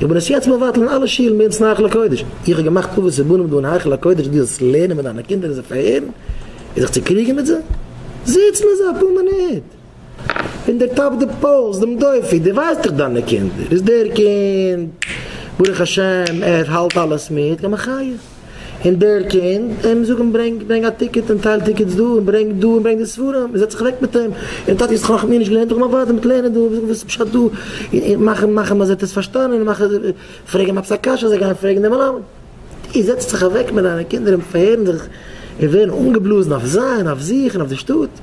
איך בין עס יעצט מבטל אין אלע שילן באונס אין היכל הקודש, איך האב געמאכט טובות צו בנים דא אין היכל הקודש דו זאלסט לערנען מיט דיינע קינדער און זיי פארהערן און זיך צוקריגן מיט זיי, זיץ מיט זיי אפאר מינוט און דערטאפ די פולס, דעם דופי, דו ווייסט דאך דיינע קינדער, איז דער קינד ברוך השם ער האלט אלעס מיט, יא מחיה. און דער קען אים זאגן ברענג ברענג א טיקעט און טייל טיקעטס דא און ברענג דא און ברענג די ספרים און זעץ זיך אוועק מיט אים און טאטי האסט נאך מיר נישט געלערנט איך מיין ווייטער מיט לערנען דא זאג וואס איז פשט דא און מאך אים מאך אים אז ער האט עס פארשטאנען און מאך פרעג אים עפעס א קשיא זיי גייען פרעגן די מלמד דו זעצט זיך אוועק מיט דיינע קינדער און פארהערן זיך און ווערן אנגעבלאזן אויף זיי און אויף זיך און אויף די שטאט.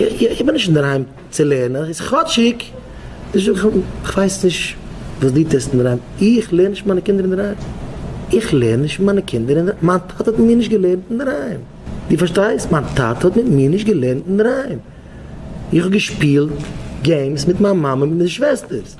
איך בין נישט אינדערהיים צו לערנען, איז כאטשיג נישט דא, כ'ווייס נישט וואס דו טוסט אינדערהיים, איך לערן נישט מיט מיינע קינדער אינדערהיים, איך לערן נישט מיט מיינע קינדער אינדערהיים, מיין טאטע האט מיט מיר נישט געלערנט אינדערהיים, דו פארשטייסט? מיין טאטע האט מיט מיר נישט געלערנט אינדערהיים, איך האב געשפילט געימס מיט מיין מאמע און מיט די שוועסטערס.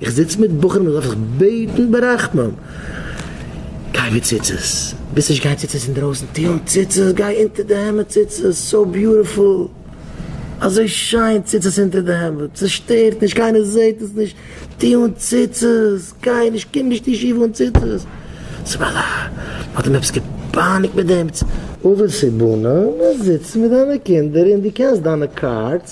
איך זיץ מיט בחורים וואס דארף איך בעטן ברחמים גיי מיט ציצית, ביסט נישט גיי ציצית אינדרויסן טו אן ציצית גיי אונטער די העמד ציצית סאו ביוטיפול אזוי שיין ציצית אונטער די העמד ס'שטערט נישט קיינער זעט עס נישט טו אן ציצית גיי נישט קום נישט אין ישיבה אן ציצית סבאלא האט אים עפעס געפייניגט מיט דעם ציצית. אויב עס איז בנים זיץ מיט דיינע קינדער און דו קענסט דיינע קארדס.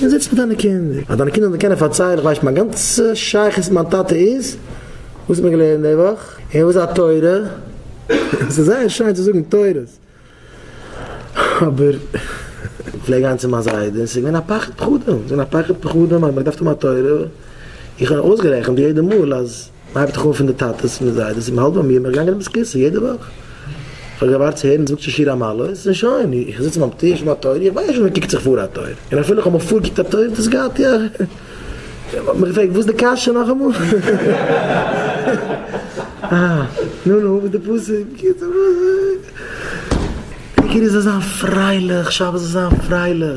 און זיץ מיט דיינע קינדער, אז דיינע קינדער זאלן דיר קענען פארציילן, איך ווייס שוין מיין גאנצע שייכות מיט מיין טאטע איז וואס האט מען געלערנט די וואך, און וואס איז א תורה, עס איז זייער שיין צו זאגן תורות, אבער איך פלעג גיין צו מיין זיידע און עס איז געווען א פחד פחדים, עס איז געווען א פחד פחדים אז מען האט געדארפט האבן א תורה, איך האב אויסגערעכנט יעדע מאל אז. מ'הייבט דאך אן פון די טאטעס מיט זיידעס און מ'האלט ביי מיר, בין איך געגאנגען אבער סקווירא יעדע וואך, איך האב געווארט צו הערן מ'זאגט שוין שיר המעלות און שוין, איך זיץ ביים טיש ביים טויער, איך ווייס שוין ווען מ'קוקט זיך פאר א טויער, און אפילו איך האב מיך פארגעקוקט א טויער דאס גייט יא, מ'האט מיך געפרעגט וואס איז די קשיא נאכאמאל? אה, נו נו, וואס איז די פסוק? עיקר איז זיי זיין פרייליך, שבת זאל זיין פרייליך.